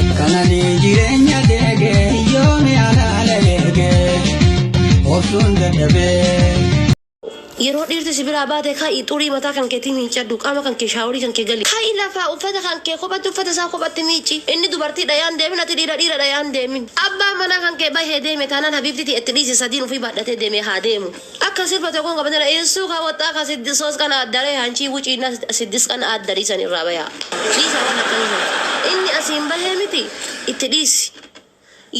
Kanani jireenya deege yoomi alaala eege obsuun dadhabee. Yeroo dhiirti si biraa baate kaa'i xurii mataa kan keetii miiccadhu qaama kan kee shaaworii kan kee gali. Kaa'i lafaa uffata kan kee kophatti uffata isaa kophatti miicci. Inni dubartii dhayaan deemin ati dhiira dhiira dhayaan deemin. Abbaan manaa kan kee bahee deeme taanaan habiibtitii itti dhiisi sadiin ofii baadhatee deemee haa deemu. Akka sirba tokkon qabate na insu ka woxxa ka siddis sos qan addare hanchii wucii na siddis qan addari san irraa bayaa. Dhiisa waan akkana san. Inni asiin bahee miti itti dhiisi.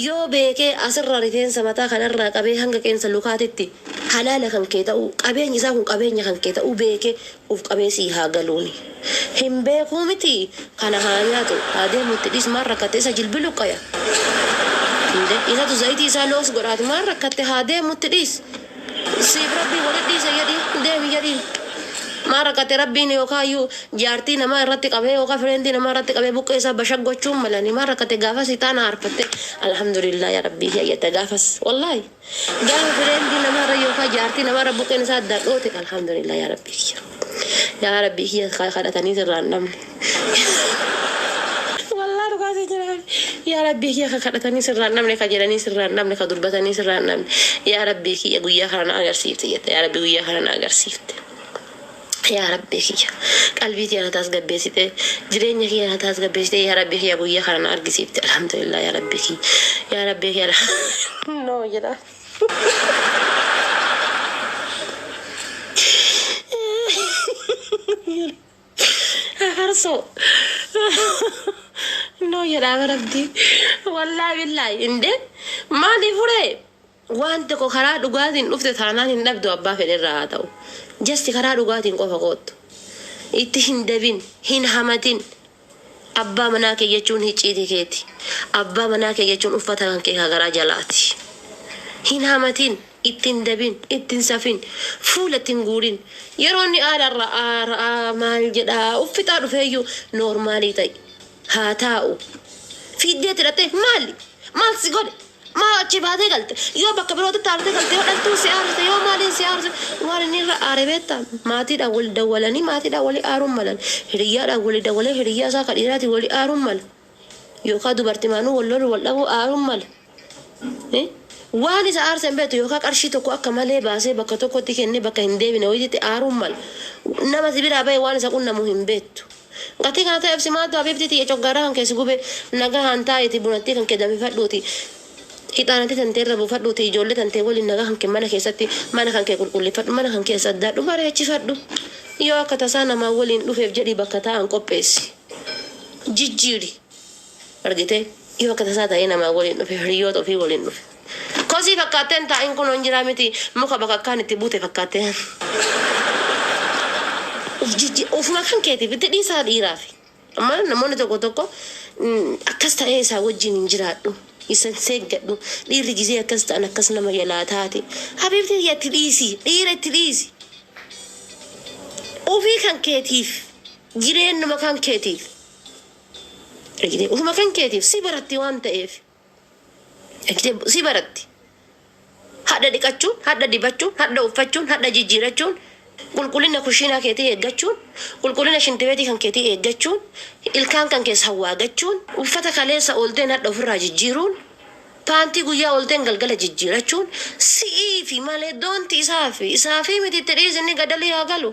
Yoo beekee asirraa rifeensa mataa kanarraa qabee hanga qeensa lukaatitti halaala kan kee ta'uu qabeenyi isaa kun qabeenya kan kee ta'uu beekee Uuf qabee sii haa galuuni. Hin beekuu miti kana haa nyaatu haa deemu itti dhiis maal rakkatte isa jilbi luqqaya Inde isatu zayitii isaa looks godhaati maal rakkatte haa deemu itti dhiis siif rabbiin walit dhiisa jedhi deemi jedhiin maal rakkatte rabbiin yookaa iyyuu jaartii namaa irratti qabee yookaa fireendi namaa irratti qabee buqqee isaa bashag gochuun malani maal rakkatte gaafas itaana aarfatte alhamdulillah yaa rabbii kiyya jette gaafas wallaahi Garuu friend nama irra yookaan jaartii nama irra buqqeen isaa addaan dhoote alhamdulillah yaa rabbii kiyya. Yaa rabbii kiyya kan kadhatanii sirraa hin dhabne. Wallah dhugaa si jira yaa rabbii kiyya kan kadhatanii sirraa hin dhabne kan jedhanii sirraa hin dhabne kan dubbatanii sirraa hin dhabne yaa rabbii kiyya guyyaa kana na agarsiifte jette yaa rabbii guyyaa kana na agarsiifte. Yaa rabbii kiyya qalbii tiyya na taasgabbeessite jireenya kiyya na taasgabbeessite yaa rabbii kiyya guyya kana na argisiifte alhamdulillah yaa rabbii kiyya yaa rabbii kiyya alha no jedha afarso no jedha bar abdii wallahi billahi inde maali fure Waan tokko karaa dhugaatiin dhufte taanaan hin dhabdu abbaa fedhe irraa haa ta'u. Just karaa dhugaatiin qofa koottu. Itti hin debin, hin hamatin. Abbaa manaa kee jechuun hicciitii keeti. Abbaa manaa kee jechuun uffata kan kee ka garaa jalaati. Hin hamatin, itti hin debin, itti hin safin, fuula itti hin guurin. Yeroo inni aara ra'aa ra'aa maal jedhaa uf fixaa dhufeeyyuu normaalii ta'i. Haa taa'u. Fiiddee itti dhaxxee maali? Maal si godhe? Maa achii baatee galte? Yoo bakka birootti taartee galte yoo dhaltuun si aarsite yoo maaliin si aarse waan inni irra aare beekta? Maatiidhaan wali dawwalanii maatiidhaan wali aaruun malan. Hiriyyaadhaan wali dawwalee hiriyyaa isaa ka dhiiraatiin wali aaruun mala. Yookaa dubartimaanuu wal loluu wal dhabuu aaruun mala. Hi? Waan isa aarse hin beektu yookaa qarshii tokko akka malee baasee bakka tokkotti kennee bakka hin deebine wayititti aaruun mala. Nama si biraa bahe waan isa qunnamu hin beektu. Gatii kana ta'eef si maaltu habiibtii tiyya coggaarraa kan kee si gube nagahaan taa'iitii bunattii kan kee danfifadhuutii hixaanattii tantee irra buufadhuutii ijoollee tantee waliin nagaa kan kee mana keessatti mana kan kee qulqulleeffadhu mana kan kee saddaadhu bareechifadhu yoo akka tasaa namaa waliin dhufeef jedhii bakka taa'an qopheessi jijjiiri argitee yoo akka tasaa ta'ee namaa waliin dhufe hiriyyoota ofii waliin dhufe kosii fakkaattee hin taa'in kunoo hin jiraa miti muka bakakkaan itti buute fakkaattee of jijji ofuma kan keetiif itti dhiisaa dhiiraafi amma namoonni tokko tokko mm, akkas ta'ee isaa wajjin hin jiraadhu isan seeggadhu dhiirri gisee akkas ta'an akkas nama jalaa taate habiibti tiyya itti dhiisi dhiira itti dhiisi ofii kan keetiif jireennuma kan keetiif Argitee? Ofuma kan keetiif si baratti waan ta'eef. Argitee? Si baratti. Hadha dhiqachuun, hadha dibachuun, hadha uffachuun, hadha jijjiirachuun, qulqullina kushiinaa keetii eeggachuun, qulqullina shintibeetii kan keetii eeggachuun, ilkaan kan kees hawwaagachuun, uffata kaleessa oolteen hadha ofirraa jijjiiruun, paantii guyyaa oolteen galgala jijjiirachuun si'iifi malee don't isaafi. Isaafii miti itti dhiisi inni gadalii haa galu.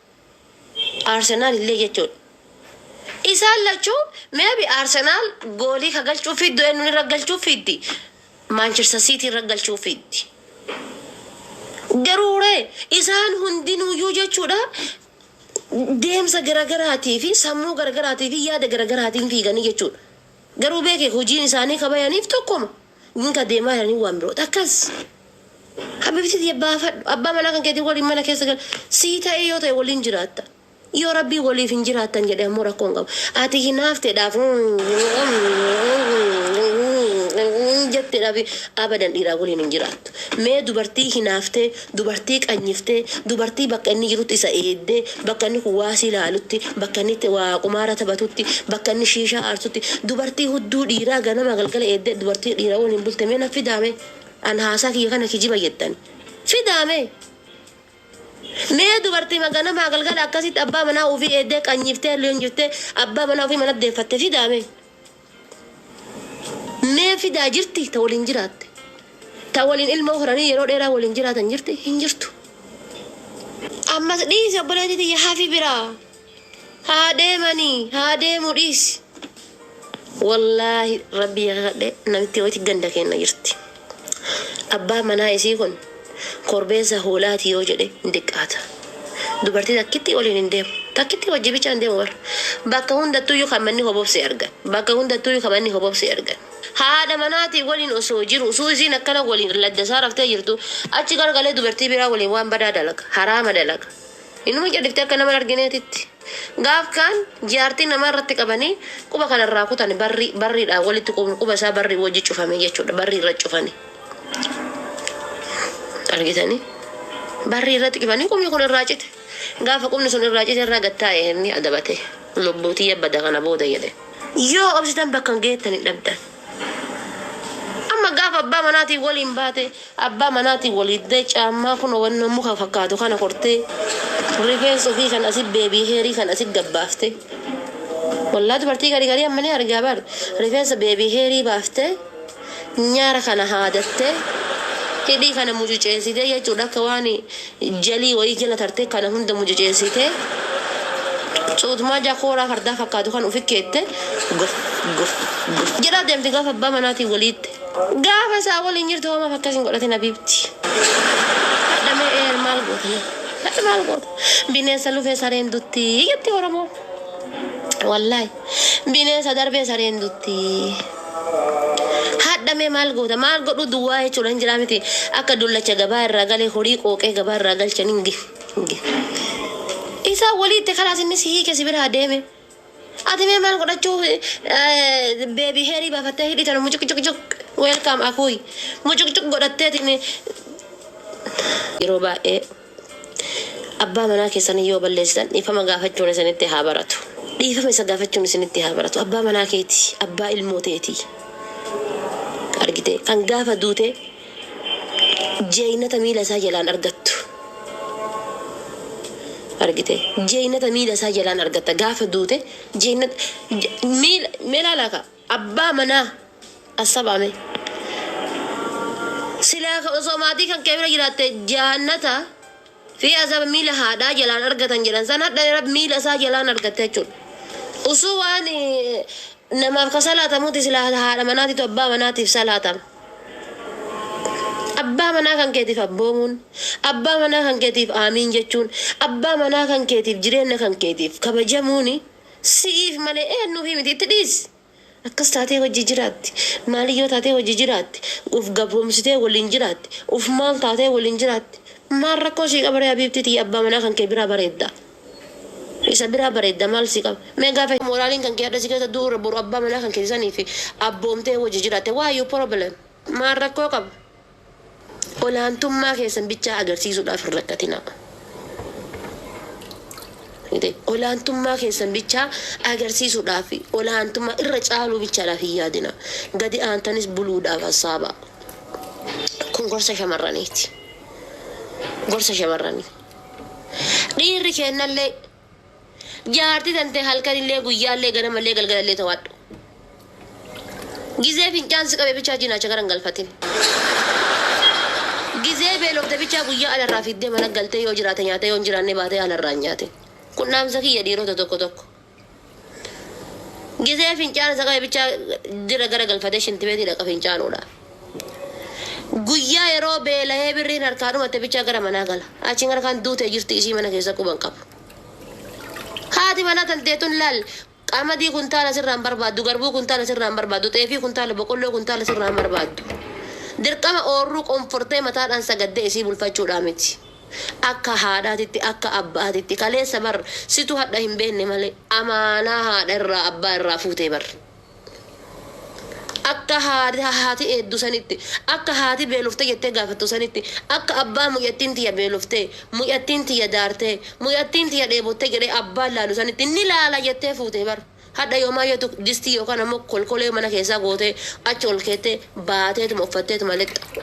Arsenal illee jechuudha. Isaan lachuu maybe Arsenal goolii ka galchuu fiiddu eennuun irra galchuu fiiddi? Manchester City irra galchuu fiiddi. Garuu ree isaan hundinuuyyuu jechuudha deemsa garagaraatii fi sammuu garagaraatii fi yaada garagaraatiin fiiganii jechuudha. Garuu beekee hojiin isaanii ka bayaniif tokkuma. Nin adeemaa jedhanii waan birooti. Akkas! Kan bifti tiyya baafadhu. Abbaa manaa kan keetii waliin mana keessa gali. Sii ta'ee yoo ta'e waliin jiraatta. Yoo Rabbiin waliif hin jiraattan jedhe ammoo rakkoo hin qabu. Ati hinaafteedhaaf jetteedhaaf abadan dhiiraa waliin hin jiraattu. Mee dubartii hinaaftee dubartii qanyiftee, dubartii bakka inni jirutti isa eeddee, bakka inni kuwaasii laalutti, bakka inni itti waa qumaara taphatutti, bakka inni shiishaa aarsutti, dubartii hudduu dhiiraa ganama galgala eeddee dubartii dhiira waliin bulte mee naf fidaa mee? An haasaa kiyya kana kijiba jettani. Fidaa mee? Mee dubartiima ganamaa galgala akkasitti abbaa manaa ufii eeddee qanyiftee, leenjiftee, abbaa manaa ufii manatti deeffatte fidaa mee? Mee fidaa jirti ta waliin jiraatte? Ta waliin ilmoo horanii yeroo dheeraa waliin jiraatan jirti? Hin jirtu. Ammas dhiisi obboleetii tiyya hafi biraa. Haa deemanii haa deemu dhiisi. Wallaahi rabbii kakadhee namitti wayiti ganda keenna jirti. Abbaan manaa isii kun korbeessa hoolaati yoo jedhe hin diqqaata. Dubartii takkittii waliin hin deemu. Takkittii wajji bichaa hin deemu bar. Bakka hundattuuyyu kan manni hobobse argan. Bakka hundattuuyyu kan manni hobobse argan. Haadha manaatii waliin osoo jiru usuu isiin akkana waliin ladda isaa raftee jirtu achi garagalee dubartii biraa waliin waan badaa dalaga. Haraama dalaga. Inuma cadhifti akka nama hin argineetitti. Gaaf kaan jaartii namaa irratti qabanii quba kana irraa kutani barrii barriidhaan walitti quubni quba isaa barrii wajji cufame jechuudha barrii irra cufani argitanii barrii irratti cufanii qubni kun irraa cite gaafa qubni sun irraa cite irraa gad taa'e inni adabate lubbuu tiyya bada kana booda jedhe yoo obsitan bakka hin geettani dhabdan Amma gaafa abbaa manaatiin waliin baate, abbaa manaatiin wal hiddee caammaa kunoo wannoo muka fakkaatu kana kortee, rifeensa ofii kan asi beebii heerii kan asi gabbaafte. Wallaa dubartii garii garii amma ni argaa bar. Rifeensa beebii heerii baaftee, nyaara kana haadattee, hidhii kana mucuceessitee jechuudha akka waan Jalii wayii jala tartee kana hunda mucuceessitee cuutmaa ja kooraa fardaa fakkaatu kan ufi keette gof gof gof jedhaa deemti gaafa abbaa manaatiin wal hiitte. Gaafa isaa waliin jirtu hoo maaf akkas hin godhatin habiibti. Hadha mee eer maal goota mee hadha maal goota bineensa lufee sareen dutti jetti oromoon wallaahi bineensa darbee sareen dutti. Hadha mee maal goota maal godhuu duwwaa jechuudha hin jiraa miti akka dullacha gabaa irraa galee horii qooqee gabaa irraa galchan hin gi hin gi. Isaa walii itti kalaas inni si hiike si biraa deeme. Ati mee maal godhachuu beebii heerii baafattee hidhii tana mucuqcuqcuq weelkaam akuuy mucuqcuq godhatteetiin yeroo baay'ee Abbaa manaa keessan yoo balleessitan dhiifama gaafachuun isinitti haa baratu. Dhiifama isa gaafachuun isinitti haa baratu. Abbaa manaa keeti, abbaa ilmoo teeti. Argitee? Kan gaafa duute jeeynata miila isaa jalaan argattu. Argitee? Jeeynata miila isaa jalaan argatta. Gaafa duute jeeynata, miila, mee laalaa kaa. Abbaa manaa assabaa mee. Silaa ka osoo maatii kankee bira jiraatte jaannata Fi azaba miila haadhaa jalaan argatan jedhan san hadha rabbi miila isaa jalaan argatte jechuudha usuu waan namaaf ka salaatamuuti silaa haadha manaatitu abbaa manaatiif salaatama abbaa manaa kankeetiif abboomuun abbaa manaa kankeetiif aamiin jechuun abbaa manaa kankeetiif jireenna kankeetiif kabajamuuni Si'iif malee eennuufii miti itti dhiisi. Akkas taatee wajji jiraatti. Maaliyyoo taatee wajji jiraatti. Uf gabroomsitee waliin jiraatti. Uf maal taatee waliin jiraatti. Maal rakkoo sii qabaree habiibtii tiyya abbaa manaa kankee biraa bareedda. Isa biraa bareedda maal sii qaba. Mee gaafa moraaliin kankee hadha si keessa du'u irra boru abbaa manaa kankee saniif abboomtee wajji jiraatte why you problem. Maal rakkoo qaba. Olaantummaa keessan bichaa agarsiisuudhaaf hin rakkatinaa. Olaantummaa keessan bichaa agarsiisuudhaaf, olaantummaa irra caaluu bichaadhaaf hin yaadinaa. Gadi aantanis buluudhaaf hassaabaa. Kun gorsa shamarraniiti. Gorsa shamarranii. Dhiirri keennallee Jaartii tantee halkanillee guyyaallee ganamallee galgalallee tawaadhu. Gizee fincaan si qabe bichaa jinaacha gara hin galfatin. Gizee beelofte bichaa guyyaa alarraa fiddee mana galtee yoo jiraate nyaatee yoo hin jiraanne baatee alarraa hin nyaatin. Kun dhaamsa kiyya dhiirota tokko tokko. Gizee fincaan isa qabe bichaa dira gara galfatee shintibeetii dhaqa fincaanuudha. Guyyaa yeroo beelahee birriin harkaa dhumatte bichaa gara manaa gala. Achiin gara kaan duutee jirti isii mana keessa quba hin qabu. Haati manaa tantee tun laal qamadii kuntaala sirraa hin barbaaddu, garbuu kuntaala sirraa hin barbaaddu, xeefii kuntaala, boqolloo kuntaala sirraa hin barbaaddu. Dirqama oorruu qonfortee mataadhaan sagaddee isii bulfachuudhaa miti. Akka haadhaatitti, akka abbaatitti, kaleessa bar situ hadha hin beenne malee, amaanaa haadha irraa abbaa irraa fuutee bar. Akka haati eeddu sanitti, akka haati beelofte jettee gaafattu sanitti, akka abbaa mucattiin tiyya beeloftee, mucattiin tiyya daartee, mucattiin tiyya dheebottee jedhee abbaan laalu sanitti ni laala jettee fuute bar. Hadha yoomaa yoo tu distii yookaan ammoo kolkolee mana keessaa gootee achi ol keettee baateetuma uffatteetuma lixxa.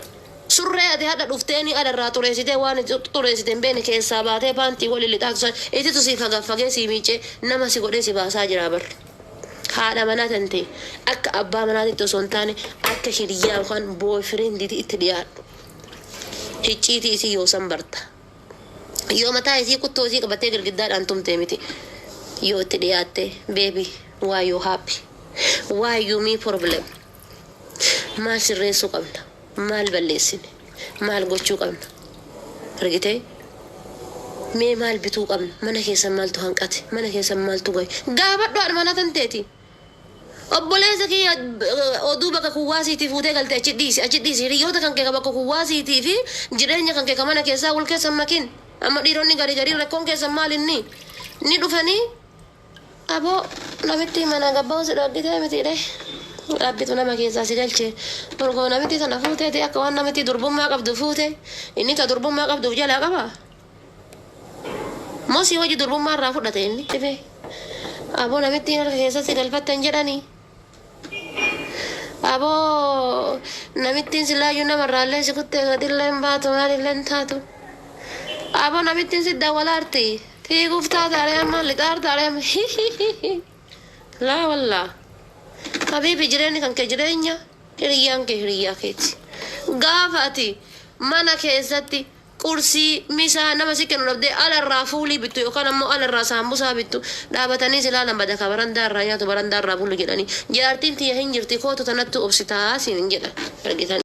Surree ati hadha dhufteenii ala irraa xureessitee waan ati xureessite hin beekne keessaa baatee paantii waliin lixaatu san ititu sii fagaffagee sii miiccee nama si godhee si baasaa jiraa bar. Haadha manaa tante akka abbaa manaatitti osoo hin taane akka hiriyyaa yookaan boyfriend'ti itti dhiyaadhu. Hicciitii isii yoosan barta. Yoo mataa isii kuttoo isii qabattee girgiddaadhaan tumte miti. Yoo itti dhiyaatte baby why you happy? Why you me problem? Maal sirreessuu qabna? Maal balleessine? Maal gochuu qabna? Argitee? Mee maal bituu qabna? Mana keessan maaltu hanqate? Mana keessan maaltu gahe? Gaafadhu haadha manaa tanteeti. Obboleessa kiyya oduu bakka kuwwaasiitii fuutee galte achi dhiisi, achi dhiisi. Hiriyyoota kankee ka bakka kuwwaasiitii fi jireenya kankee ka mana keessaa wal keessa hin makin. Amma dhiironni garii gariin rakkoon keessan maal inni? Ni dhufanii Abo namittii mana gabbahu si dhoggitee mitii ree rabbitu nama keessaa si galchee borgoo namittii tana fuuteeti akka waan namittii durbummaa qabdu fuute inni ta durbummaa qabduuf jalaa qaba moo si waji durbummaa irraa fudhate inni dhibee abo namittiin harka keessaa si galfatte hin jedhanii Aboo namittiin silaayyuu namarraallee si kuttee gadillee hin baatu maalillee hin taatu. Aboo namittiin si dawwalaarti fiiguuf taataaree amma lixaartaaree amma hihihihi. Laa wallaa. Habiibi jireenyi kan kee jireenya hiriyyaan kee hiriyyaa keeti. Gaafa ati mana keessatti qursii, misaa, nama si kennu dhabdee ala irraa fuulii bittu yookaan ammoo ala irraa saambusaa bittu, dhaabatanii si laalan bada kaa barandaa irraa nyaatu barandaa irraa bulu jedhanii, jaartiin tiyya hin jirti kootu tanattuu obsitaa siin jedhan. Argitanii.